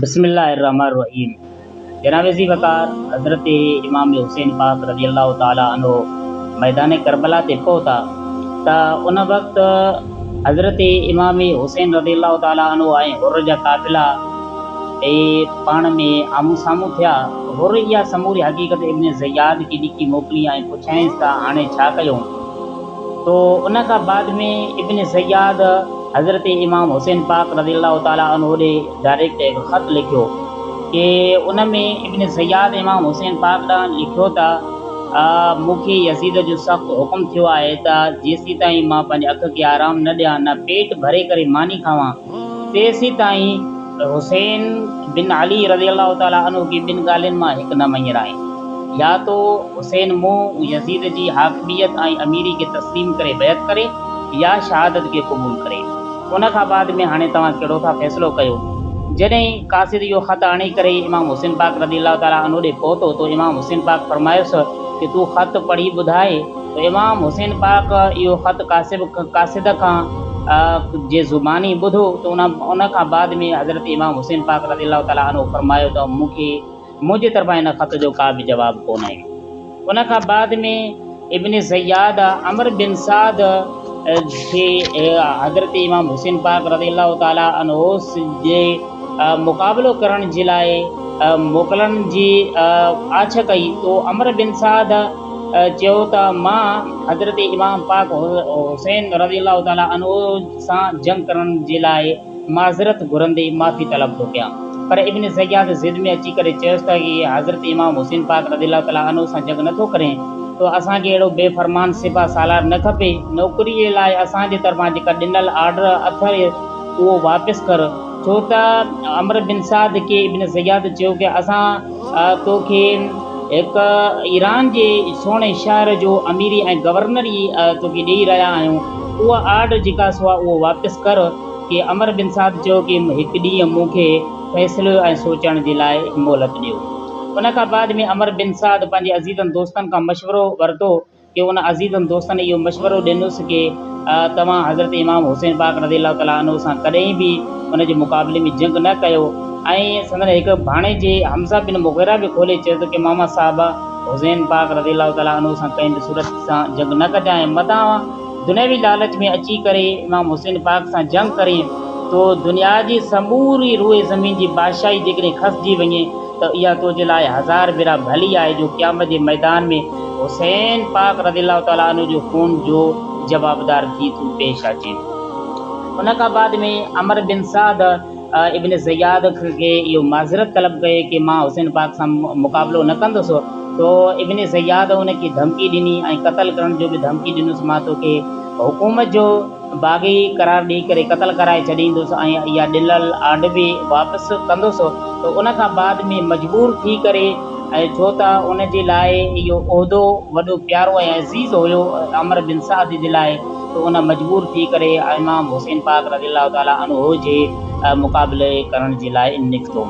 بسم الله الرحمن الرحيم جناب زي وقار حضرت امام حسين پاڪ رضي الله تعالٰي عنه ميدان ڪربلا تي پهتا ته ان وقت حضرت امام حسين رضي الله تعالٰي عنه ۽ حر جا قافلا اي پاڻ ۾ آمهون سامهون ٿيا. حر اها سموري حقيقت ابن زياد کي لکي موڪلي ۽ پڇيائينس ته هاڻي ڇا ڪيون؟ تو ان کان بعد ۾ ابن زياد، حضرت امام حسين پاڪ رضي الله تعالٰي عنه ڏي ڊائريڪٽ هڪ خط لکيو ڪي ان ۾ ابن زياد امام حسين پاڪ ڏانهن لکيو ته مون کي يزيد جو سخت حڪم ٿيو آهي ته جيسيتائين مان پنهنجي اک کي آرام نه ڏيان نه پيٽ ڀري ڪري ماني کاوان تيسيتائين حسين بن علي رضي الله تعالٰي عنه کي ٻن ڳالهين مان هڪ نه مڃرائين يا تو حسين مون يزيد جي حاڪميت ۽ اميري کي تسليم ڪري بيعت ڪري يا شهادت کي قبول ڪري. ان کان بعد ۾ هاڻي توهان ڪهڙو ٿا فيصلو ڪيو؟ جڏهن قاصد اهو خط آڻي ڪري امام حسين پاڪ رضي الله تعالٰي عنه ڏي پهتو ته امام حسين پاڪ فرمايس ته تون خط پڙهي ٻڌاء ته امام حسين پاڪ اهو خط قاصد قاصد کان جي زباني ٻڌو ته ان کان بعد ۾ حضرت امام حسين پاڪ رضي الله تعالٰي عنه فرمايو ته مون کي منهنجي طرفان ان خط جو ڪا به جواب ڪونه آيو. ان کان بعد ۾ ابن زياد عمرو بن سعد کي حضرت امام حسين پاڪ رضي الله تعالٰي عنه جي مقابلو ڪرڻ جي لاء موڪلڻ جي آڇ ڪئي تو عمرو بن سعد چيو ته مان حضرت امام پاڪ حسين رضي الله تعالٰي عنه سان جنگ ڪرڻ جي لاء معذرت گهرندي معافي طلب ٿو ڪيان. پر ابن زياد ضد ۾ اچي ڪري چيس ته اگي حضرت امام حسين پاڪ رضي الله تعالٰي عنه سان جنگ نٿو ڪرين تو اسان کي اهڙو بي فرمان سپاه سالار نه کپي، نوڪري جي لاء اسان جي طرفان جيڪا ڏنل آرڊر اٿئي اهو واپس ڪر ڇو ته عمرو بن سعد کي ابن زياد چيو ڪي اسان ڇا تو کي هڪ ايران جي سهڻي شهر جو اميري ۽ گورنر ئي تو کي ڏيئي رهيا آهيون. اها آرڊر جيڪا سو آهي اهو واپس ڪر. ڪي عمر بن سعد چيو ڪي هڪ ڏينهن مون کي فيصلي ۽ سوچڻ جي لاء مهلت ڏيو. ان کان بعد ۾ عمر بن سعد پنهنجي عزيزن دوستن کان مشورو ورتو. کي ان عزيزن دوستن اهو مشورو ڏنس ڪي توهان حضرت امام حسين پاڪ رضي الله تعالٰي عنه سان ڪڏهن به ان جي مقابلي ۾ جنگ نه ڪيو ۽ سندن هڪ ڀاڻيجي حمزه بن مغيره به کولي چيو ته ڪي ماما صاحب حسين پاڪ رضي الله تعالٰي عنه سان ڪنهن به صورت سان جنگ نه ڪجانء متان دنيوي لالچ ۾ اچي ڪري امام حسين پاڪ سان جنگ ڪرين تو دنيا جي سموري روئي زمين جي بادشاهي جيڪڏهن کسجي وڃي ته اها تنهنجي لاء هزار ڀيرا ڀلي آهي جو قيامت جي ميدان ۾ حسين پاڪ رضي الله تعالٰي عنه جي خون جو جوابدار ٿي تون پيش اچين. ان کان بعد ۾ عمرو بن سعد ابن زياد کي اهو معذرت طلب ڪئي ڪي مان حسين پاڪ سان مقابلو نه ڪندس تو ابن زياد ان کي ڌمڪي ڏني ۽ قتل ڪرڻ جو به ڌمڪي ڏنس مان توکي حڪومت جو باغي قرار ڏئي ڪري قتل ڪرائي ڇڏيندس ۽ اها ڏنل آڏوي واپس ڪندس ته ان کان بعد ۾ مجبور ٿي ڪري ۽ ڇو ته ان جي لاء اهو عهدو وڏو پيارو ۽ عزيز هيو عمرو بن سعد جي لاء ته ان مجبور ٿي ڪري امام حسين پاڪ رضي الله تعالٰي عنه جي مقابلي ڪرڻ جي لاء نڪتو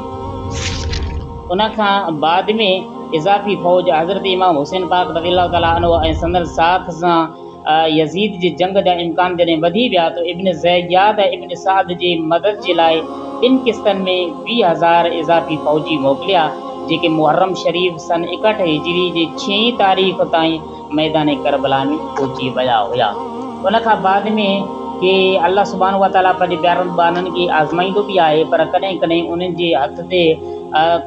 ان کان بعد ۾ اضافي فوج حضرت امام حسين پاڪ رضي الله تعالٰي عنه ۽ سندن ساٿ سان يزيد جي جنگ جا امڪان جڏهن وڌي ويا ته ابن زياد ۽ ابن سعد جي مدد جي لاء ٻن قسطن ۾ ويهه هزار اضافي فوجي موڪليا، جيڪي محرم شريف سن ايڪهٺ هجري جي ڇهين تاريخ تائين ميدان ڪربلا ۾ پهچي ويا هيا. ان کان بعد ۾ ڪي الله سبحانه وتعاليٰ پنهنجي پيارن ٻانهن کي آزمائيندو به آهي پر ڪڏهن ڪڏهن انهن جي هٿ تي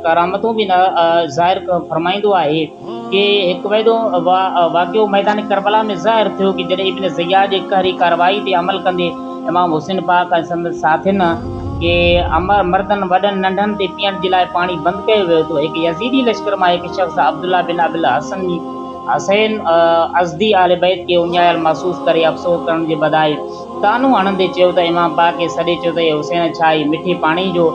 ڪرامتون به ظاهر فرمائيندو آهي. کي هڪ وعدو واقعو ميدان ڪربلا ۾ ظاهر ٿيو ڪي جڏهن ابن زياد جي قهري ڪارروائي تي عمل ڪندي امام حسين پاڪ ۽ سندس ساٿين کي امر مردن وڏن ننڍن تي پيئڻ جي لاء پاڻي بند ڪيو ويو ته هڪ يزيدي لشڪر مان هڪ شخص عبدالله بن ابي الحسن حسين ازدي اهل بيت کي اڃايل محسوس ڪري افسوس ڪرڻ جي بدائي طعنو هڻندي چيو ته امام پاڪ کي سڏي چيو ته اي حسين ڇا هي مٺي پاڻي جو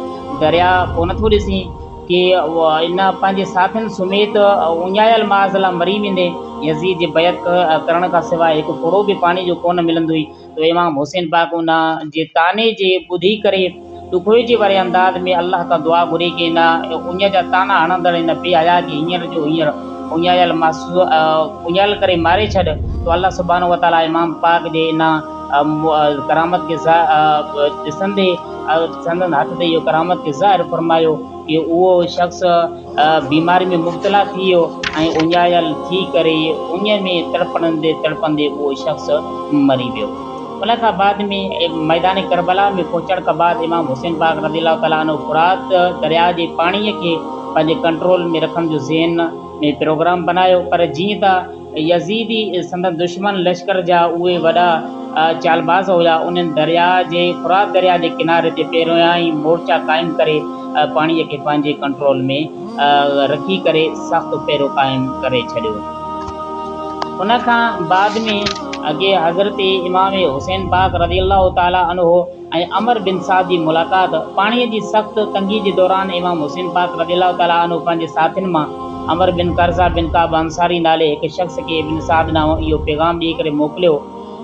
درياء ڪو نٿو ڏسين کي ان پنهنجي ساٿين سميت اڃايل ماض لاء مري ويندي يزيد جي بيعت ڪرڻ کان سواء هڪ ڦڙو به پاڻي جو ڪونه ملندو هئي ته امام حسين پاڪ ان جي طعني جي ٻڌي ڪري ڏکوئجي واري انداز ۾ الله کان دعا گهري ڪي نه اڃ جا طعنا هڻندڙ ان بي حياء کي هينئر جو هينئر اڃايل ماض اڃايل ڪري ماري ڇڏ ته الله سبحانه وتعاليٰ امام پاڪ جي ان ڪرامت کي ڏسندي سندن هٿ تي اهو ڪرامت کي ظاهر فرمايو ڪي اهو شخص بيماري ۾ مبتلا ٿي ويو ۽ اڃايل ٿي ڪري اڃ ۾ تڙپندي تڙپندي اهو شخص مري ويو ان کان بعد ۾ ميدان ڪربلا ۾ پهچڻ کان بعد امام حسين پاڪ رضي الله تعالٰي عنه فرات درياء جي پاڻيء کي پنهنجي ڪنٽرول ۾ رکڻ جو ذهن ۾ پروگرام بنايو پر جيئن ته يزيدي سندن دشمن لشڪر جا اهي وڏا چالباز هيا، انهن درياء جي فرات درياء جي ڪناري تي پهريائين ئي مورچا قائم ڪري پاڻي کي پنهنجي ڪنٽرول ۾ رکي ڪري سخت پهرو قائم ڪري ڇڏيو. ان کان بعد ۾ اڳي حضرت امام حسين پاڪ رضي الله تعالٰي عنه ۽ عمر بن سعد جي ملاقات، پاڻيء جي سخت تنگيء جي دوران امام حسين پاڪ رضي الله تعالٰي عنه پنهنجي ساٿين مان عمر بن قرظه بن ڪعب انصاري نالي هڪ شخص کي ابن سعد ڏانهن اهو پيغام ڏيئي ڪري موڪليو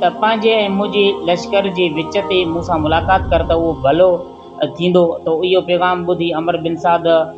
ته پنهنجي ۽ منهنجي لشڪر جي وچ تي مون سان ملاقات ڪر ته اهو ڀلو ٿيندو ته اهو پيغام ٻڌي عمر بن سعد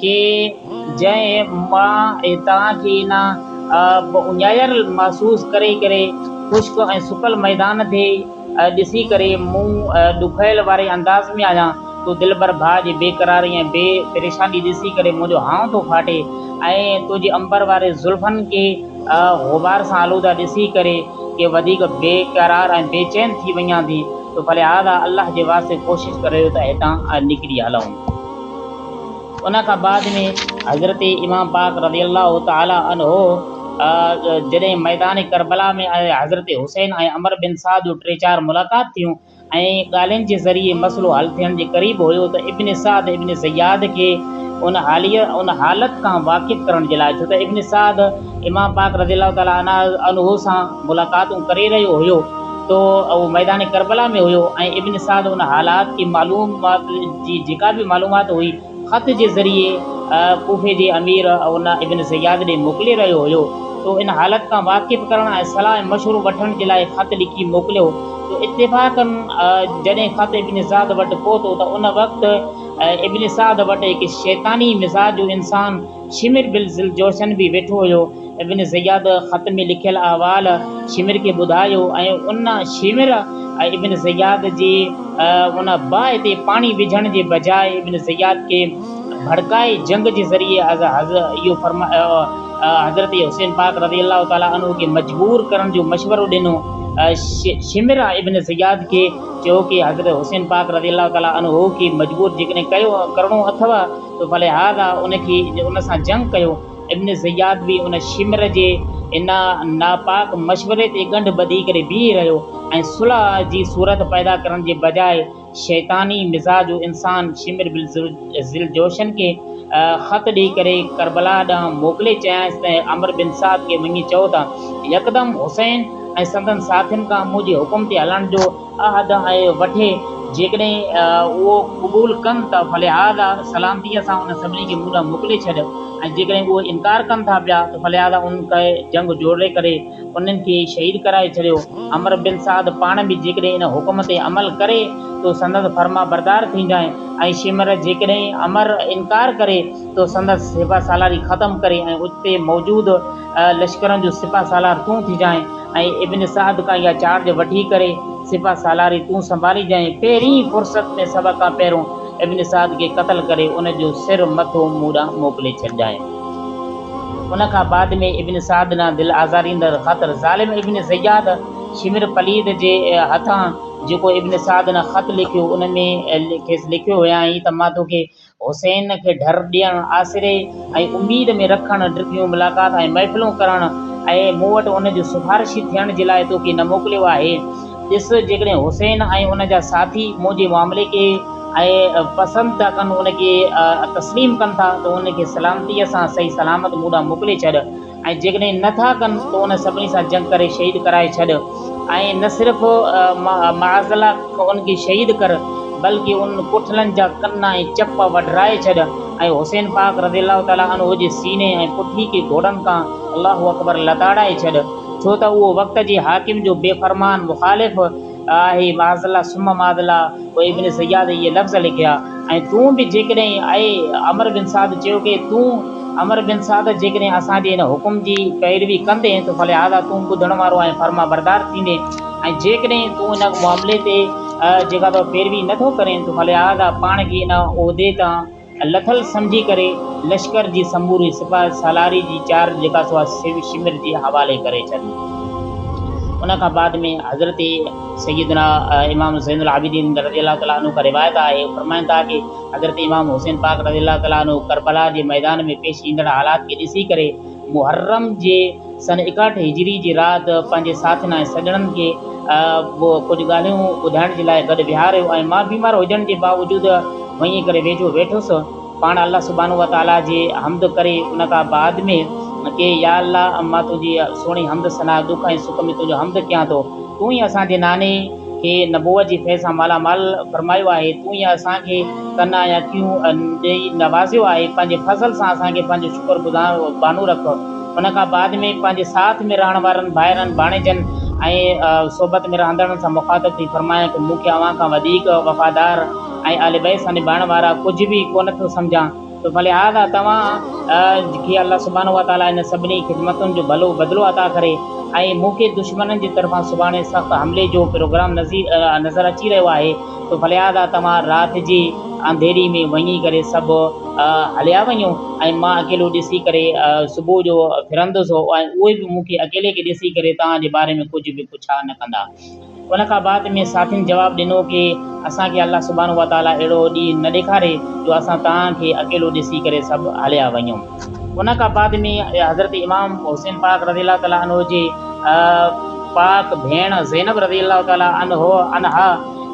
کي جنهن مان هتان کي نه اڃايل محسوس ڪري ڪري خشڪ ۽ سڪل ميدان تي ڏسي ڪري مون ڏکويل واري انداز ۾ آهيان تو دلبر ڀاء جي بي قراري ۽ بي پريشاني ڏسي ڪري منهنجو هانء ٿو ڦاٽي ۽ تنهنجي عنبر واري زلفن کي غبار سان آلوده ڏسي ڪري ڪي وڌيڪ بي قرار ۽ بي چين ٿي وڃان ٿي تو فلهذا الله جي واسطي ڪوشش ڪريو ته هتان نڪري هلون. ان کان بعد ۾ حضرت امام پاڪ رضي الله تعالٰي عنه جڏهن ميدان ڪربلا ۾ ۽ حضرت حسين ۽ عمر بن سعد جون ٽي چار ملاقات ٿيون ۽ ڳالهين جي ذريعي مسئلو حل ٿيڻ جي قريب هيو ته ابن سعد ابن زياد کي ان حاليء ان حالت کان واقف ڪرڻ جي لاء ڇو ته ابن سعد امام پاڪ رضي الله تعالٰي عنه سان ملاقاتون ڪري رهيو هيو تو اهو ميدان ڪربلا ۾ هيو ۽ ابن سعد ان حالات کي معلومات جي جيڪا به معلومات هئي خط جي ذريعي ڪوفي جي امير ان ابن زياد ڏي موڪلي رهيو هيو تو ان حالت کان واقف ڪرڻ ۽ صلاح ۽ مشورو وٺڻ جي لاء خط لکي موڪليو تو اتفاقاً جڏهن خط ابن سعد وٽ پهتو ته ان وقت ابن سعد وٽ هڪ شيطاني مزاج جو انسان شمر بل ذوالجوشن به ويٺو هيو. ابن زياد خط ۾ لکيل احوال شمر کي ٻڌايو ۽ ان، شمر، ۽ ابن زياد جي ان باهه تي پاڻي وجهڻ جي بجاء ابن زياد کي ڀڙڪائي جنگ جي ذريعي حضرت حسين پاڪ رضي الله تعالٰي عنه کي مجبور ڪرڻ جو مشورو ڏنو. شمر ابن زياد کي چيو ڪي حضرت حسين پاڪ رضي الله تعالٰي عنه کي مجبور جيڪڏهن ڪرڻو اٿئو ته فلهذا ان کي ان سان جنگ ڪيو. ابن زياد به ان شمر جي ان ناپاڪ مشوري تي ڳنڍ ٻڌي ڪري بيهي رهيو ۽ صلح جي صورت پيدا ڪرڻ جي بجاء شيطاني مزاج انسان شمر بن ذوالجوشن کي خط ڏئي ڪري ڪربلا ڏانهن موڪلي چيائينس ته عمرو بن سعد کي وڃي چئو ته يڪدم حسين ۽ سندن ساٿين کان منهنجي حڪم تي هلڻ جو عهد وٺي، جيڪڏهن اهو قبول ڪن ته فلهذا سلامتيء سان انهن سڀني کي مون ڏانهن موڪلي ڇڏ، ۽ جيڪڏهن اهو انڪار ڪن ٿا پيا ته فلهذا انهن کي جنگ جوڙي ڪري انهن کي شهيد ڪرائي ڇڏيو. عمرو بن سعد پاڻ به جيڪڏهن ان حڪم تي عمل ڪري تو سندس فرمانبردار ٿينجانء، ۽ شمر جيڪڏهن عمر انڪار ڪري تو سندس سپهه سالاري ختم ڪري ۽ اتي موجود لشڪرن جو سپهه سالار تون ٿيجانء، ۽ ابن سعد کان اها چارج وٺي ڪري سپهه سالاري تون سنڀاليجانء، پهرين فرصت ۾ سڀ کان پهريون ابن سعد کي قتل ڪري ان جو سر مٿو مون ڏانهن موڪلي ڇڏجانء. ان کان بعد ۾ ابن سعد ڏانهن دل آزاريندڙ خاطر ظالم ابن زياد شمر پليد جي هٿان جيڪو ابن سعد ڏانهن خط لکيو ان ۾ کيس لکيو هيائين ته مان توکي حسين کي ڍر ڏيڻ، آسري ۽ اميد ۾ رکڻ، ڊگهيون ملاقات ۽ محفلون ڪرڻ ۽ مون وٽ ان جو سفارشي ٿيڻ جي لاء توکي نه موڪليو آهي. ڏس، جيڪڏهن حسين ۽ ان جا ساٿي مون جي معاملي کي ۽ پسند ٿا ڪن، ان کي تسليم ڪن ٿا ته انهن کي سلامتيء سان صحيح سلامت مون ڏانهن موڪلي ڇڏ. ۽ جيڪڏهن نه ٿا ڪن ته انهن سڀني سان جنگ ڪري شهيد ڪرائي ڇڏ ۽ نه صرف معاذ الله انهن کي شهيد ڪر بلڪ انهن ڪٺلن جا ڪن ۽ چپ وڍرائي ڇڏ ۽ حسين پاڪ رضي الله تعالٰي عنه جي سيني ۽ پٺي کي گهوڙن تان الله اڪبر لتاڙائي ڇڏ ڇو ته اهو وقت جي حاڪم جو بي فرمان مخالف آهي معاذالله ثم معاذالله پوء ابن صياد اهي لفظ لکيا ۽ تون به جيڪڏهن اي عمرو بن سعد چيو ڪي تون عمرو بن سعد جيڪڏهن اسان جي هن حڪم جي پيروي ڪندين ته فلهذا تون ٻڌڻ وارو ۽ فرمانبردار ٿيندين ۽ جيڪڏهن تون ان معاملي تي جيڪا تو پيروي نٿو ڪرين ته فلهذا پاڻ کي ان عهدي تان لٿل سمجهي ڪري لشڪر جي سموري سپهه سالاري جي چارج جيڪا سو سوي شمر جي حوالي ڪري ڇڏي. ان کان بعد ۾ حضرت سيدنا امام زين العابدين رضي الله تعالٰي عنه کان روايت آهي فرمائن ٿا ڪي حضرت امام حسين پاڪ رضي الله تعالٰي عنه ڪربلا جي ميدان ۾ پيش ايندڙ حالات کي ڏسي ڪري محرم جي سن ايڪاهٺ هجري جي رات پنهنجي ساٿين ۽ سڄڻن کي ڪجهه ڳالهيون ٻڌائڻ جي لاء گڏ ويهاريو ۽ مان بيمار هجڻ جي باوجود وڃي ڪري ويجهو ويٺس. پاڻ الله سبحانه وتعاليٰ جي حمد ڪري ان کان بعد ۾ ڪي يا الله مان تنهنجي سهڻي حمد ثنا ڏک ۽ سک ۾ تنهنجو حمد ڪيان ٿو. تون ئي اسان جي ناني. کي نبوت جي فيض سان مالا مال فرمايو آهي، تون ئي اسان کي ڪن ۽ اکيون ڏئي نوازيو آهي، پنهنجي فضل سان اسان کي پنهنجو شڪر گذار بانو رک. ان کان بعد ۾ پنهنجي ساٿ ۾ رهڻ وارن ڀائرن، ڀاڻيجن ۽ صحبت ۾ رهندڙن سان مخاطب ٿي فرمايائين ته مون کي اوهان کان وڌيڪ وفادار ۽ اهل بيت سان نڀائڻ وارا ڪجهه به ڪونه ٿو سمجهان، ته فلهذا توهان کي الله سبحانه وتعاليٰ انهن سڀني خدمتن جو ڀلو بدلو عطا ڪري ۽ مون کي دشمنن جي طرفان سڀاڻي سخت حملي جو پروگرام نظر اچي رهيو آهي ته فلهذا توهان رات جي انڌيري ۾ وڃي ڪري سڀ هليا وڃو ۽ مان اڪيلو ڏسي ڪري صبح جو ڦرندس ۽ اهي به مون کي اڪيلي کي ڏسي ڪري توهان جي باري ۾ ڪجهه به پڇا نه ڪندا. ان کان بعد ۾ ساٿين جواب ڏنو ڪي اسان کي الله سبحانه وتعاليٰ اهڙو ڏينهن نه ڏيکاري جو اسان توهان کي اڪيلو ڏسي ڪري سڀ هليا وڃون. ان کان بعد ۾ حضرت امام حسين پاڪ رضي الله تعالٰي عنه جي پاڪ ڀيڻ زينب رضي الله تعالٰي عنها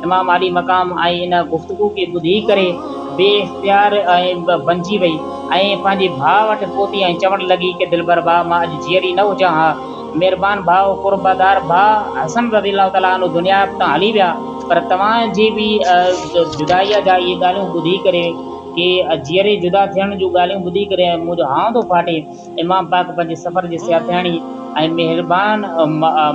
امام عالي مقام ۽ ان گفتگو کي ٻڌي ڪري بي اختيار بنجي وئي ۽ پنهنجي ڀاء وٽ پهتي ۽ چوڻ لڳي ڪي دلبر ڀاء مان اڄ جيئري نه هجان ها مھربان ڀاء ۽ قربدار ڀاء حسن رضي الله تعالٰي عنه دنيا تان ھلي ويا پر توھان جي بي جدائيء جا اھي ڳالھيون ٻڌي ڪري ڪي جيئري جدا ٿيڻ جون ڳالھيون ٻڌي ڪري منھنجو ھانء ٿو ڦاٽي امام پاڪ پنھنجي سفر جي سياٿياڻي ۽ مھربان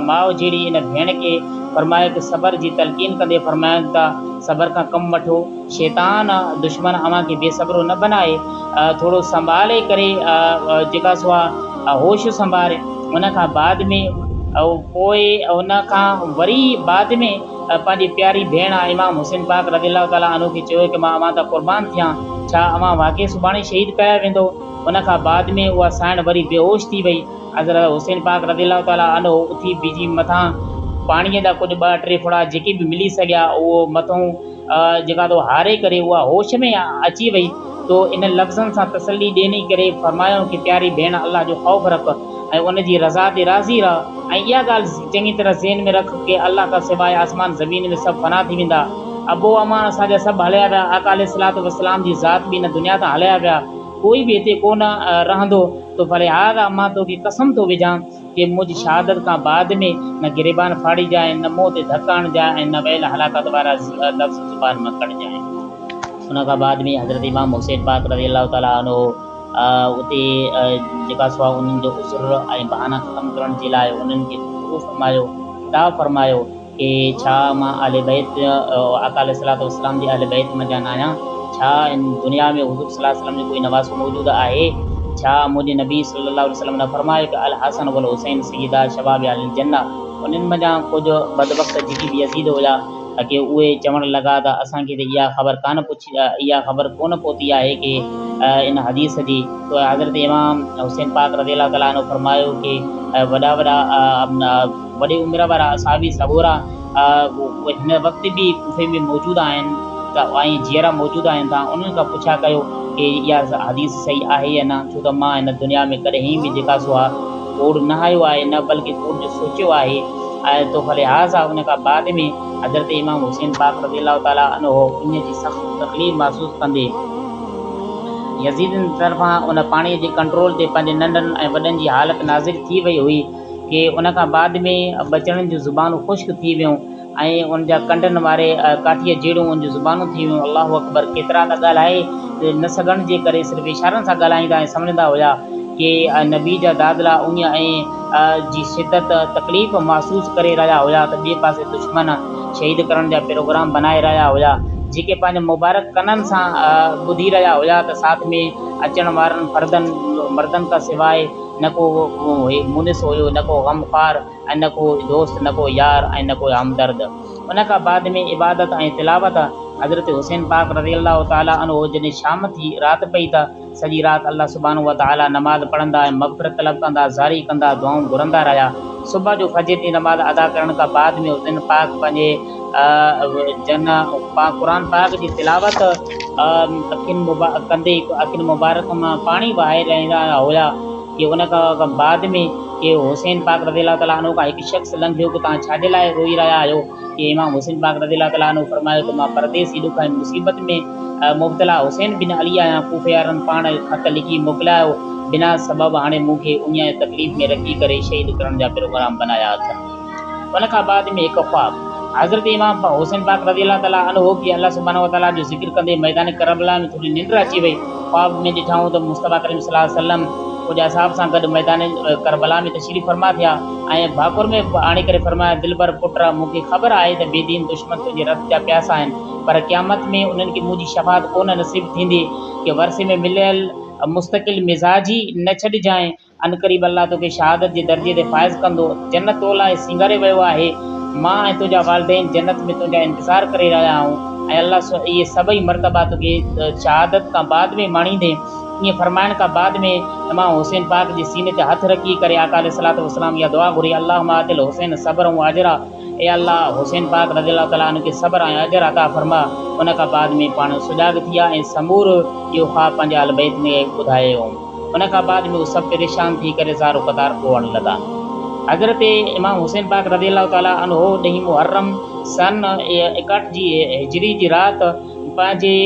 ماء جھڙي ان ڀيڻ کي فرمايو ته صبر جي تلقين ڪندي فرمايائون ته صبر کان ڪم وٺو شيطان دشمن اوهان کي بي صبرو نه بنائي ٿورو سنڀالي ڪري جيڪا سو آ هوش سنڀار ان کان بعد ۾ او پوء ان کان وري بعد ۾ پنهنجي پياري ڀيڻ امام حسين پاڪ رضي الله تعالٰي عنه کي چيو ته مان اوهان تان قربان ٿيان ڇا اوهان واقعي سڀاڻي شهيد ڪيا ويندو ان کان بعد ۾ اها سائڻ وري بيهوش ٿي وئي حضرت حسين پاڪ رضي الله تعالٰي عنه اٿي بيجي مٿان پاڻي جا ڪجهه ٻه ٽي ڦڙا جيڪي به ملي سگهيا اهو مٿون جيڪا تو هاري ڪري اها هوش ۾ اچي وئي تو ان لفظن سان تسلي ڏيني ڪري فرمايائون ڪي پياري ڀيڻ الله جو خوف رک ۽ ان جي رضا تي راضي رهه ۽ اها ڳالهه چڱي طرح ذهن ۾ رک ڪي الله کان سواء آسمان زمين ۾ سڀ فنا ٿي ويندا ابو امان اسان جا سڀ هليا ويا آقا عليه الصلوة والسلام جي ذات به ان دنيا تان هليا ويا ڪوئي به هتي ڪونه رهندو تو فلهذا مان توکي قسم ٿو وجهان ڪي منهن جي شهادت کان بعد ۾ نه گريبان ڦاڙجانء، نه منهن تي ڌڪ هڻجانء ۽ نه ويل هلاڪت وارا لفظ زبان مان ڪڍجانء. ان کان بعد ۾ حضرت امام حسين پاڪ رضي الله تعالٰي عنه اتي جيڪا سو انهن جو عذر ۽ بهانا ختم ڪرڻ جي لاء انهن کي مبعوث فرمايو، خطاب فرمايو. ڪي، ڇا مان اهل بيت، آقا عليه الصلوة والسلام، جي اهل بيت منجهان ناهيان؟ ڇا هن دنيا ۾ حضور صلي الله عليه وسلم جو ڪوئي نواسو موجود آهي؟ ڇا منهنجي نبي صلي الله عليه وسلم نه فرمايو ته الحسن والحسين سيدا شباب اهل الجنة انهن منجهان ڪجهه بدبخت جيڪي بيزيد هيا ته ڪي اهي چوڻ لڳا ته اسان کي ته اها خبر ڪانه پڇي اها خبر ڪونه پهتي آهي ڪي ان حديث جي تو حضرت امام حسين پاڪ رضي الله تعالٰي عنه فرمايو ڪي وڏا وڏا وڏي عمر وارا صحابي سڳورا اهي هن وقت به ڪوفي ۾ موجود آهن ته ۽ جيئرا موجود آهن ته انهن کان پڇا ڪيو ڪي اها حديث صحيح آهي يا نه ڇو ته مان هن دنيا ۾ ڪڏهين به جيڪا سو آ ڪوڙ نه هايو آهي نه بلڪه ڪوڙ جو سوچيو آهي ۽ تو فلهٰذا ان کان بعد ۾ حضرت امام حسين پاڪ رضي الله تعالٰي عنه انهيء جي سخت تڪليف محسوس ڪندي، يزيدين طرفان ان پاڻيء جي ڪنٽرول تي پنهنجي ننڍن ۽ وڏن جي حالت ناظر ٿي وئي هئي ڪي ان کان بعد ۾ ٻچڙن جون زبانون خشڪ ٿي ويون ۽ ان جا ڪنڊن واري ڪاٺيء جهڙون ان جون زبانون ٿي ويون الله اڪبر ڪيترا ته ڳالهائي نه سگهڻ جي ڪري صرف اشارن سان ڳالهائيندا ۽ سمجهندا هيا ڪي نبي جا دادلا اڃ ائين جي شدت تڪليف محسوس ڪري رهيا هيا ته ٻئي پاسي دشمن شهيد ڪرڻ جا پروگرام بنائي رهيا هيا جيڪي پنهنجي مبارڪ ڪنن سان ٻڌي رهيا هيا ته ساٿ ۾ اچڻ وارن فردن مردن کان سواء نه ڪو مونس هيو نه ڪو غم خوار ۽ نه ڪو دوست نه ڪو يار ۽ نه ڪو همدرد ان کان بعد ۾ عبادت ۽ تلاوت حضرت حسين پاڪ رضي الله تعالٰي عنه جڏهن شام ٿي رات پئي ته سڄي رات الله سبحانه وتعاليٰ نماز پڙهندا ۽ مغفرت طلب ڪندا، زاري ڪندا، دعائون گهرندا رهيا. صبح جو فجر جي نماز ادا ڪرڻ کان بعد ۾ حسين پاڪ پنهنجي جنهن قرآن پاڪ جي تلاوت اکين ڪندي اکين مبارڪ مان پاڻي وهائي رهندا هيا ڪي ان کان بعد ۾ ڪي حسين پاڪ رضي الله تعالٰي عنه کان هڪ شخص لنگهيو ڪي توهان ڇا جي لاء روئي رهيا آهيو؟ ڪي امام حسين پاڪ رضي الله تعالٰي عنه فرمايو ته مان پرديسي ڏک ۽ مصيبت ۾ مبتلا حسين بن علي آهيان، ڪوفي وارن پاڻ خط لکي موڪلايو، بنا سبب هاڻي مون کي اڃايو تڪليف ۾ رکي ڪري شهيد ڪرڻ جا پروگرام بنايا اٿن. ان کان بعد ۾ هڪ خواب. حضرت امام حسين پاڪ رضي الله تعالٰي عنه کي الله سبحانه وتعالٰي جو ذڪر ڪندي ميدان ڪربلا ۾ ٿوري ننڊ اچي وئي، خواب ۾ ڏٺائون ته مصطفٰي ڪريم صلي الله عليه وسلم ڪجهه اصحاب سان گڏ ميدان ڪربلا ۾ تشريف فرما ٿيا، ۽ ڀاڪر ۾ به آڻي ڪري فرمايو، دلبر پٽ را! مون کي خبر آهي ته بيدين دشمن تنهنجي رت جا پياسا آهن، پر قيامت ۾ انهن کي منهنجي شفاعت ڪونه نصيب ٿيندي، ڪي ورثي ۾ مليل مستقل مزاجي نه ڇڏجانء، عنقريب الله توکي شهادت جي درجي تي فائز ڪندو، جنت تو لاء سينگاري ويو آهي، مان ۽ تنهنجا والدين جنت ۾ تنهنجا انتظار ڪري رهيا آهون، ۽ الله سو اهي سڀئي مرتبا توکي شهادت کان بعد ۾ ماڻيندين. ائين فرمائڻ کان بعد ۾ امام حسين پاڪ جي سيني تي هٿ رکي ڪري آقا عليه الصلواة والسلام اها دعا گهري اللهم آت الحسين صبرا و اجرا اي الله حسين پاڪ رضي الله تعالٰي عنه کي صبر ۽ اجر عطا فرما ان کان بعد ۾ پاڻ سجاڳ ٿي ويا ۽ سمور اهو خواب پنهنجي اهل بيت ۾ ٻڌايائون ان کان بعد ۾ هو سڀ پريشان ٿي ڪري زارو قطار روئڻ لڳا حضرت امام حسين پاڪ رضي الله تعالٰي عنه ڏهين محرم سن ايڪهٺ جي هجري جي رات پنهنجي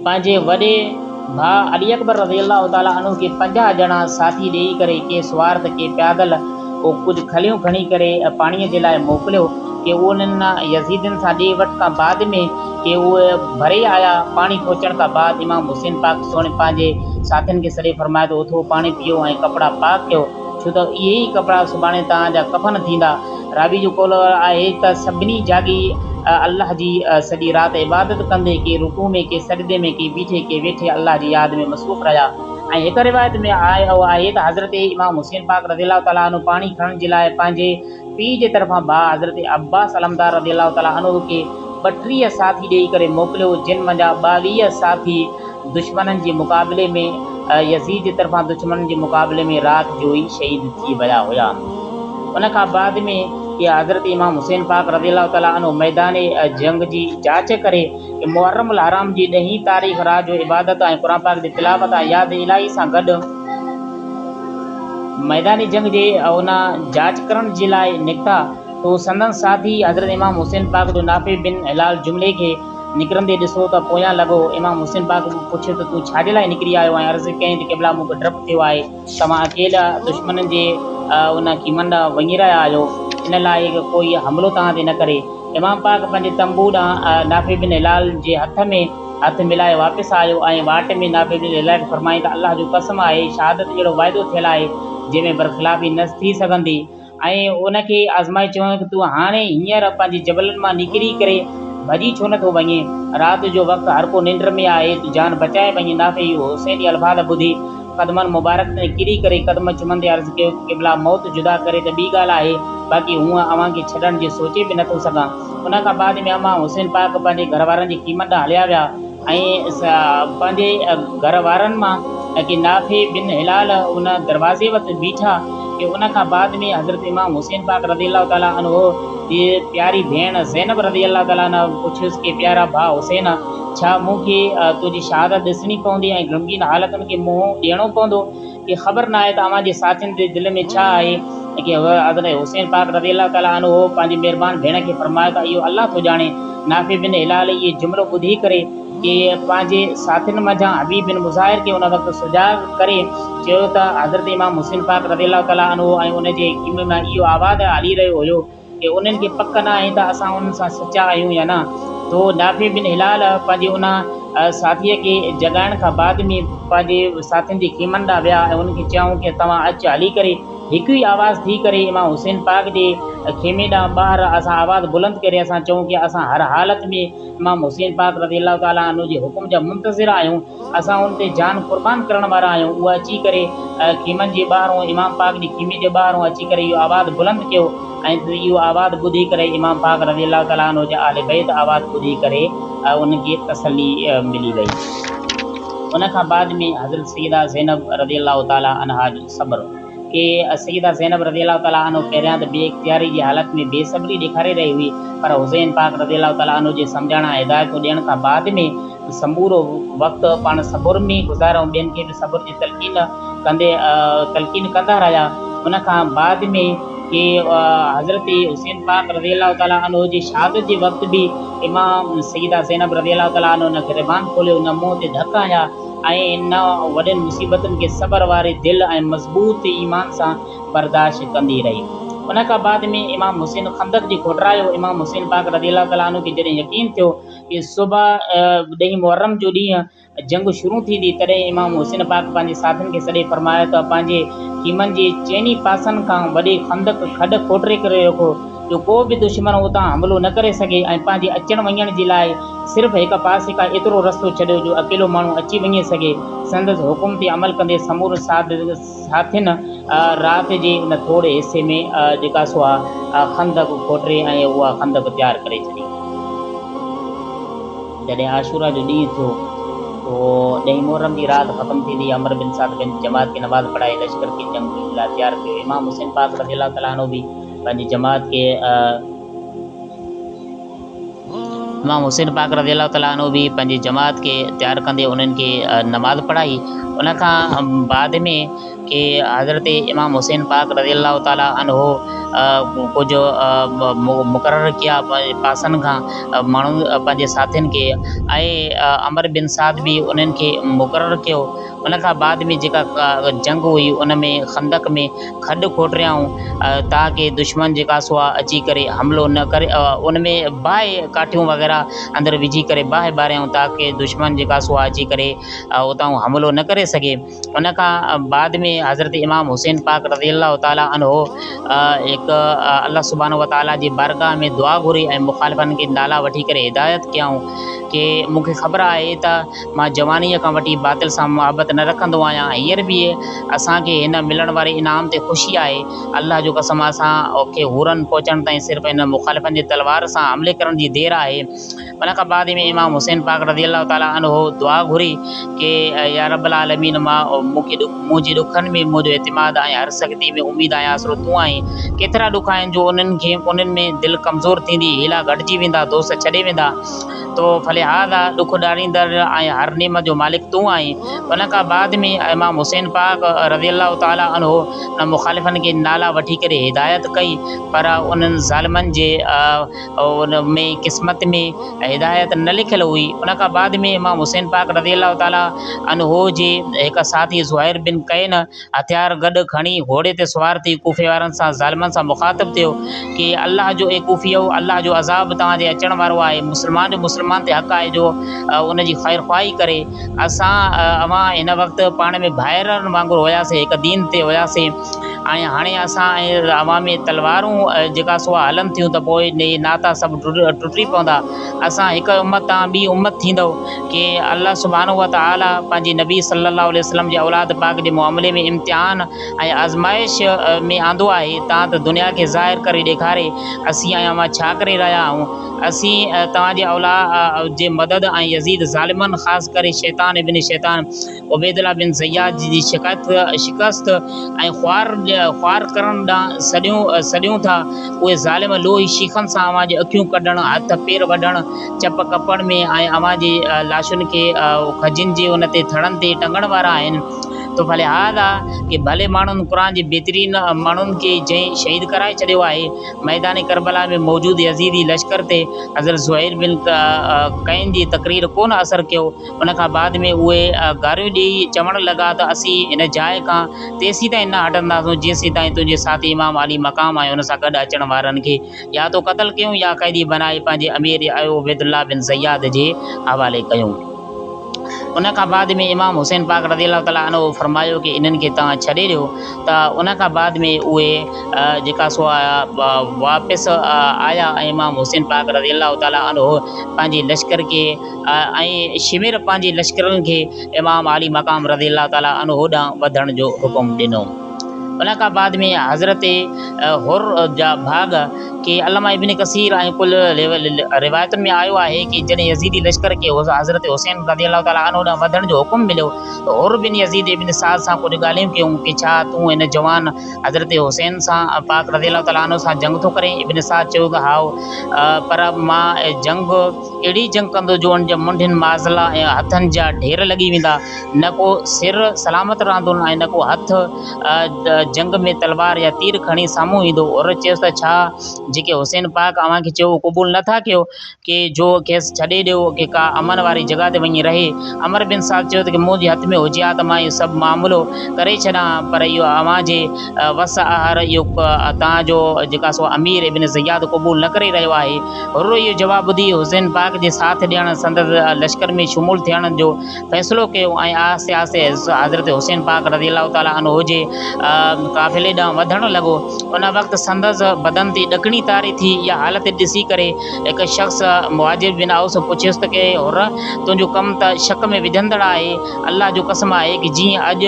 پنهنجي وڏي ڀاء علي اڪبر رضي الله تعالٰي عنه کي پنجاهه ڄڻا ساٿي ڏيئي ڪري ڪي سوار ته ڪي پيادل ڪو ڪجهه کليون کڻي ڪري پاڻيء جي لاء موڪليو ڪي انهن يزيدين سان ڏي وٺ کان بعد ۾ ڪي اهي ڀري آيا پاڻي پهچڻ کان بعد امام حسين پاڪ سهڻي پنهنجي ساٿين کي سڏي فرمايو ته اٿو پاڻي پيئو ۽ ڪپڙا پاڪ ڪيو ڇو ته اهي ئي ڪپڙا سڀاڻي توهان جا ڪفن ٿيندا. راوي جو قول آهي ته سڀني جاڳي الله جي سڄي رات عبادت ڪندي ڪي رڪوع ۾ ڪي سجدي ۾ ڪي بيٺي ڪي ويٺي الله جي ياد ۾ مصروف رهيا ۽ هڪ روايت ۾ اهو آهي ته حضرت امام حسين پاڪ رضي الله تعالٰي عنه پاڻي کڻڻ جي لاء پنهنجي پيء جي طرفان ڀاء حضرت عباس علمدار رضي الله تعالٰي عنه کي ٻٽيهه ساٿي ڏيئي ڪري موڪليو جن منجهان ٻاويهه ساٿي دشمنن جي مقابلي ۾ يزيد جي طرفان دشمنن جي مقابلي ۾ رات جو ئي شهيد ٿي ويا هيا. ان کان بعد ۾ يا حضرت امام حسين پاڪ رضي الله تعالٰي عنه ميدان جنگ جي جاچ ڪري محرم الحرام جي ڏهين تاريخ رات جو عبادت ۽ قرآن پاڪ جي تلاوت ۽ ياد الٰهي سان گڏ ميدان جنگ جي ان جاچ ڪرڻ جي لاء نڪتا تو سندن ساٿي حضرت امام حسين پاڪ جو نافع بن هلال جملي کي نڪرندي ڏسو ته پويان لڳو. امام حسين پاڪ پڇيو ته تون ڇا جي لاء نڪري آيو آهين؟ عرض ڪيائين ته قبلا مون کي ڊپ ٿيو آهي ته اوهان اڪيلا دشمنن جي ان خيمن ڏانهن وڃي رهيا آهيو، ان لاء ته ڪوئي حملو توهان تي نه ڪري. امام پاڪ پنهنجي تنبوء ڏانهن نافع بن هلال جي هٿ ۾ هٿ ملائي واپس آيو ۽ واٽ ۾ نافع بن هلال کي فرمائين ته الله جو قسم آهي شهادت جهڙو وعدو ٿيل آهي جنهن ۾ برخلافي نه ٿي سگهندي. ۽ ان کي آزمائي چيائون ته تون هاڻي هينئر پنهنجي جبلن مان نڪري ڪري ڀڄي ڇو نٿو وڃين؟ رات جو وقت هر ڪو ننڊ ۾ آهي، تون جان بچائي وڃ. نافع اهو حسين جي الفاظ ٻڌي قدمن مبارڪ تي ڪري ڪري قدم چمندي عرض ڪيو ته قبلا موت جدا ڪري ته ٻي ڳالهه آهي، باقي هونئن اوهان کي ڇڏڻ جي سوچي به نٿو سگهان. ان کان بعد ۾ امان حسين پاڪ پنهنجي گهر وارن جي خيمن ڏانهن هليا ويا. ۽ پنهنجي گهر وارن مان ڪي نافع بن هلال ان دروازي وٽ بيٺا ڪي ان کان بعد ۾ حضرت امام حسين پاڪ رضي الله تعالٰي عنه جي پياري ڀيڻ زينب رضي الله تعالٰي عنها پڇيس ڪي پيارا ڀاء حسين ڇا مون کي تنهنجي شهادت ڏسڻي پوندي ۽ غمگين حالتن کي منهن ڏيڻو پوندو کي خبر ناهي ته اوهان جي ساٿين جي دل ۾ ڇا آهي ۽ ڪيئن هو حضرت حسين پاڪ رضي الله تعالٰي عنه پنهنجي مهربان ڀيڻ کي فرمايو ته اهو الله ٿو ڄاڻي نافع بن هلال اهي جملو ٻڌي ڪري ڪي پنهنجي ساٿين منجهان حبيب بن مظاهر کي ان وقت سجاڳ ڪري چيو ته حضرت امام حسين پاڪ رضي الله تعالٰي عنه ۽ ان جي خيمي مان اهو آواز هلي رهيو هيو. ڪي انهن کي پڪ نه آهي ته اسان انهن سان سچا آهيون يا نه. تو نافع بن هلال پنهنجي ان ساٿيء کي جڳائڻ کان بعد ۾ پنهنجي ساٿين جي خيمن ڏانهن ويا ۽ انهن کي چيائون ڪي توهان اچ هلي ڪري هڪ ئي آواز ٿي ڪري امام حسين پاڪ جي خيمي ڏانهن ٻاهر اسان آواز بلند ڪري اسان چئون ڪي اسان هر حالت ۾ امام حسين پاڪ رضي الله تعالٰي عنه جي حڪم جا منتظر آهيون. اسان ان تي جان قربان ڪرڻ وارا آهيون. اهي اچي ڪري خيمن جي ٻاهرون امام پاڪ جي خيمي جي ٻاهرون اچي ڪري اهو آواز بلند ڪيو ۽ اهو آواز ٻڌي ڪري امام پاڪ رضي الله تعالٰي عنه جي آل بيت آواز ٻڌي ڪري انهن کي تسلي ملي وئي. ان کان بعد ۾ حضرت سيده زينب رضي الله تعالٰي عنها جو صبر. ڪي السيده زينب رضي الله تعالٰي عنه پهريان ته بي اختياري جي حالت ۾ بي صبري ڏيکاري رهي هئي پر حسين پاڪ رضي الله تعالٰي عنه جي سمجهائڻ ۽ هدايتون ڏيڻ کان بعد ۾ سمورو وقت پاڻ صبر ۾ گذاريو ۽ ٻين کي به صبر جي تلقين ڪندي تلقين ڪندا رهيا ان کان بعد ۾ ڪي حضرت حسين پاڪ رضي الله تعالٰي عنه جي شهادت جي وقت به امام السيده زينب رضي الله تعالٰي عنه ان گريبان کوليو ان منهن تي ڌڪ هنيا ۽ ان وڏين مصيبتن کي صبر واري دل ۽ مضبوط ايمان سان برداشت ڪندي رهي. ان کان بعد ۾ امام حسين خندق جي کوٽرايو. امام حسين پاڪ رضي الله تعالٰي عنه کي جڏهن يقين ٿيو ته صبح ڏهين محرم جو ڏينهن جنگ شروع ٿيندي، تڏهن امام حسين پاڪ پنهنجي ساٿين کي سڏي فرمايو ته پنهنجي خيمن جي چئني پاسن کان وڏي خندق، کڏ، کوٽري ڪري رکو، جو ڪو به دشمن اتان حملو نه ڪري سگهي ۽ پنهنجي اچڻ وڃڻ جي لاء صرف هڪ پاسي کان ايترو رستو ڇڏيو جو اڪيلو ماڻهو اچي وڃي سگهي. سندس حڪم تي عمل ڪندي سمورن ساٿين رات جي ان ٿوري حصي ۾ جيڪا سو اها خندق کوٽري ۽ اها خندق تيار ڪري ڇڏي. جڏهن عاشوراء جو ڏينهن ٿيو تو ڏهين محرم جي رات ختم ٿي ويئي. عمرو بن سعد بنت جماعت کي نماز پڙهائي لشڪر کي جنگ جي لاء تيار ڪيو. امام حسين پاڪ رضي الله تعالٰي عنه به. پنهنجي جماعت کي امام حسين پاڪ رضي الله تعالٰي عنه به پنهنجي جماعت کي تيار ڪندي انهن کي نماز پڙهائي ان کان بعد ۾ ڪي حضرت امام حسين پاڪ رضي الله تعالٰي عنه ڪجهه مقرر ڪيا پنهنجي پاسن کان ماڻهو پنهنجي ساٿين کي ۽ عمر بن سعد به انهن کي مقرر ڪيو ان کان بعد ۾ جيڪا جنگ هئي ان ۾ خندق ۾ کڏ کوٽيائون تاڪه دشمن جيڪا سو آ اچي ڪري حملو نه ڪري ان ۾ باهه ڪاٺيون وغيره اندر وجهي ڪري باهه ٻاريائون تاڪه دشمن جيڪا سو آ اچي ڪري اتائون حملو نه ڪري سگهي ان کان بعد ۾ حضرت امام حسين پاڪ رضي الله تعالٰي عنه هڪ الله سبحانه وتعالٰي جي بارگاهه ۾ دعا گهري ۽ مخالفن کي نالا وٺي ڪري هدايت ڪيائون ڪي مونکي خبر آهي ته مان جوانيء کان وٺي باطل سان محبت نه رکندو آهيان ۽ هينئر به اسان کي هن ملڻ واري انعام تي خوشي آهي. الله جو قسم اسان کي حورن پهچڻ تائين صرف انهن مخالفن جي تلوار سان حملي ڪرڻ جي دير آهي. ان کان بعد ۾ امام حسين پاڪ رضي الله تعالٰي عنه دعا گهري ڪي يا رب العالمين مان مون کي منهنجي ڏکن ۾ منهنجو اعتماد ۽ هر سختي ۾ اميد ۽ آسرو تون آهين. ڪيترا ڏک آهن جو انهن ۾ دل ڪمزور ٿيندي، حيلا گهٽجي ويندا، دوست ڇڏي ويندا. تو فلهذا ڏک ڏاڙيندڙ ۽ هر نعمت جو مالڪ تون آهين. ان کان بعد ۾ امام حسين پاڪ رضي الله تعالٰي عنه نه مخالفن کي نالا وٺي ڪري هدايت ڪئي پر انهن ظالمن جي ۾ قسمت ۾ هدايت نه لکيل هئي. ان کان بعد ۾ امام حسين پاڪ رضي الله تعالٰي عنه جي هڪ ساٿي زهير بن قين هٿيار گڏ کڻي گهوڙي تي سوار ٿي ڪوفي وارن سان ظالمن سان مخاطب ٿيو ڪي الله جو اي ڪوفيؤ الله جو عذاب توهان تي اچڻ وارو آهي مسلمان جو مسلمان تي حق آهي جو ان جي خير خواهي ڪري اسان اوهان هن وقت پاڻ ۾ ڀائرن وانگر هياسين هڪ دين تي هياسين ۽ هاڻي اسان ۽ اوهان ۾ تلوارون جيڪا سوا هلن ٿيون ته پوء ناتا سڀ ٽٽي پوندا اسان هڪ امت تان ٻي امت ٿيندو کي الله سبحانه وتعاليٰ پنهنجي نبي صلّي اللّٰه عليه وسلّم جي اولاد پاڪ جي معاملي ۾ امتحان ۽ آزمائش ۾ آندو آهي تان ته دنيا کي ظاهر ڪري ڏيکاري اسين ۽ اوهان ڇا ڪري رهيا آهيون. اسين توهان جي اولاد جي مدد ۽ يزيد ظالمن خاص ڪري شيطان ابن شيطان عبيدالله بن زياد جي شڪست ۽ خوار خوار ڪرڻ ڏانهن سڏيون سڏيون ٿا، اهي ظالم لوهي شيخن سان اوهان جي اکيون ڪڍڻ، هٿ پير وڍڻ، چپ ڪپڻ ۾ ۽ اوهان جي لاشن کي کجين جي ان تي ٿڙن تي ٽنگڻ وارا آهن. تو فلهذا ڪي ڀلي ماڻهن قرآن جي بهترين ماڻهن کي جنهن شهيد ڪرائي ڇڏيو آهي. ميدان ڪربلا ۾ موجود يزيدي لشڪر تي حضرت زهير بن قعين جي تقرير ڪونه اثر ڪيو. ان کان بعد ۾ اهي گاريون ڏيئي چوڻ لڳا ته اسين هن جاء کان تيسين تائين نه هٽنداسون جيسين تائين تنهنجي ساٿي امام علي مقام ۽ ان سان گڏ اچڻ وارن کي يا ته قتل ڪيون يا قيدي بنائي پنهنجي امير ايو عبيد الله بن زياد جي حوالي ڪيون. ان کان بعد ۾ امام حسين پاڪ رضي الله تعالٰي عنه فرمايو ڪي انهن کي توهان ڇڏي ڏيو ته ان کان بعد ۾ اهي جيڪا سو واپس آيا ۽ امام حسين پاڪ رضي الله تعالٰي عنه پنهنجي لشڪر کي ۽ شمر پنهنجي لشڪرن کي امام عالي مقام رضي الله تعالٰي عنه ڏانهن وڌڻ جو حڪم ڏنو. ان کان بعد ۾ حضرت حر جا ڀاڳ ڪي علامه ابن ڪثير ۽ ڪل روايتن ۾ آيو آهي ته جڏهن يزيدي لشڪر کي حضرت حسين رضي الله تعالٰي عنه ڏانهن وڌڻ جو حڪم مليو ته حر بن يزيد ابن سعد سان ڪجهه ڳالهيون ڪيون ته ڇا تون هن جوان حضرت حسين پاڪ رضي الله تعالٰي عنه سان جنگ ٿو ڪرين؟ ابن سعد چيو ته هائو پر مان جنگ اهڙي جنگ ڪندو جو ان جي منڍين، مازلا ۽ هٿن جا ڍير لڳي ويندا. نه ڪو سر سلامت رهندو ۽ نه ڪو هٿ جنگ ۾ تلوار يا تير کڻي سامهون ايندو. عورت چيس ته ڇا جيڪي حسين پاڪ اوهان کي چيو اهو قبول نه ٿا ڪيو ڪي جو کيس ڇڏي ڏيو ۽ ڪا امن واري جڳهه تي وڃي رهي. عمرو بن سعد چيو ته منهنجي هٿ ۾ هجي ها ته مان اهو سڀ معاملو ڪري ڇڏان ها پر اهو اوهان جي وس آهر اهو توهان جو جيڪا سو امير ابن زياد قبول نه ڪري رهيو آهي. حر اهو جواب ٻڌي حسين پاڪ جي ساٿ ڏيڻ سندس لشڪر ۾ شمول ٿيڻ جو فيصلو ڪيو ۽ آهستي آهستي حضرت حسين پاڪ رضي الله تعالٰي عنه جي قافلي ڏانهن وڌڻ لڳو. ان وقت سندس بدن تي ڏڪڻي طاري ٿي. اها حالت ڏسي ڪري هڪ شخص مهاجر بن اوس پڇيس ته اي حر! تنهنجو ڪم ته شڪ ۾ وجهندڙ آهي. الله جو قسم آهي ڪي جيئن اڄ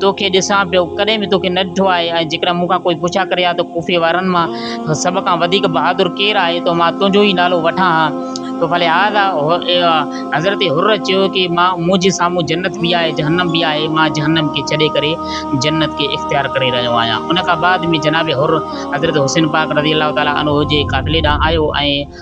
توکي ڏسان پيو، ڪڏهن به توکي نه ڏٺو آهي ۽ جيڪڏهن مون کان ڪوئي پڇا ڪري ها ته ڪوفي وارن مان سڀ کان وڌيڪ بهادر ڪير آهي ته مان تنهنجو ئي نالو وٺان ها ته فلهذا حضرت حر چيو ته منهنجي سامهون جنت به آهي جهنم به آهي مان جهنم کي ڇڏي ڪري جنت کي اختيار ڪري رهيو آهيان ان کان بعد ۾ جناب حر حضرت حسين پاڪ رضي الله تعالٰي عنه جي قافلي ڏانهن آيو ۽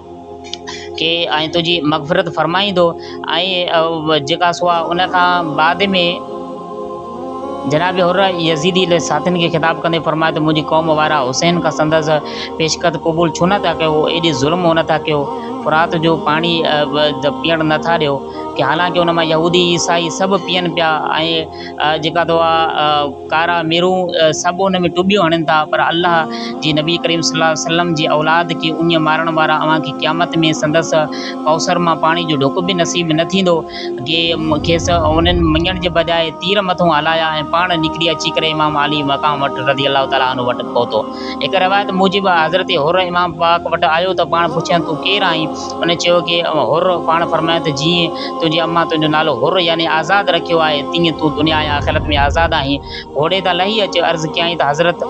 ڪي ۽ تنهنجي مغفرت فرمائيندو ۽ جيڪا سو آ ان کان بعد ۾ جناب حر يزيدي لي ساٿين کي خطاب ڪندي فرمايو ته منهنجي قوم وارا حسين کان سندس پيشڪت قبول ڇو نه ٿا ڪيو ايڏي ظلم هو نٿا ڪيو فرات جو پاڻي پيئڻ نٿا ڏيو ڪي حالانڪه ان مان يهودي عيسائي سڀ پيئن پيا ۽ جيڪا تو ڪارا ميرون سڀ ان ۾ ٽٻيون هڻين ٿا پر الله جي نبي ڪريم صلي الله عليه وسلم جي اولاد کي اڃ مارڻ وارا اوهان کي قيامت ۾ سندس ڪوثر مان پاڻي جو ڍڪ به نصيب نه ٿيندو جي کيس انهن مڃڻ جي بجاء تير مٿو هلايا ۽ پاڻ نڪري اچي ڪري امام علي مقام وٽ رضي الله تعالٰي عنه وٽ پهتو هڪ روايت موجب حضرت حر امام پاڪ وٽ آيو ته پاڻ پڇيائين تون ڪير آهين؟ هن چيو ته حر پاڻ فرمايو ته جيئن تنهنجي امان تنهنجو نالو حر يعني آزاد رکيو آهي تيئن تون دنيا ۽ آخرت ۾ آزاد آهين. گهوڙي تان لهي اچ عرض ڪيائين ته حضرت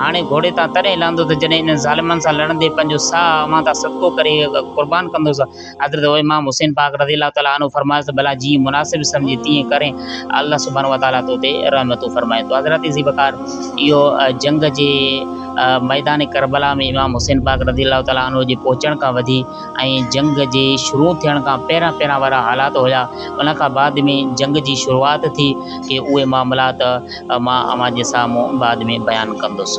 هاڻي گهوڙي تان تڏهن لهندو ته جڏهن انهن ظالمن سان لڙندي پنهنجو ساهه اوهان تان صدقو ڪري قربان ڪندوس. حضرت امام حسين پاڪ رضي الله تعالٰي عنه فرمايس ته ڀلا جيئن مناسب سمجهين تيئن ڪرين الله سبحانه وتعالٰي تو تي رحمتون فرمائين. تو حضرت ذي وقار اهو جنگ جي. ميدان ڪربلا ۾ امام حسين پاڪ رضي الله تعالٰي عنه جي پهچڻ کان وڌي ۽ جنگ جي شروع ٿيڻ کان پهريان پهريان وارا حالات هيا ان کان بعد ۾ جنگ جي شروعات ٿي ڪي اهي معاملات مان اوهان جي سامهون بعد ۾ بيان ڪندس.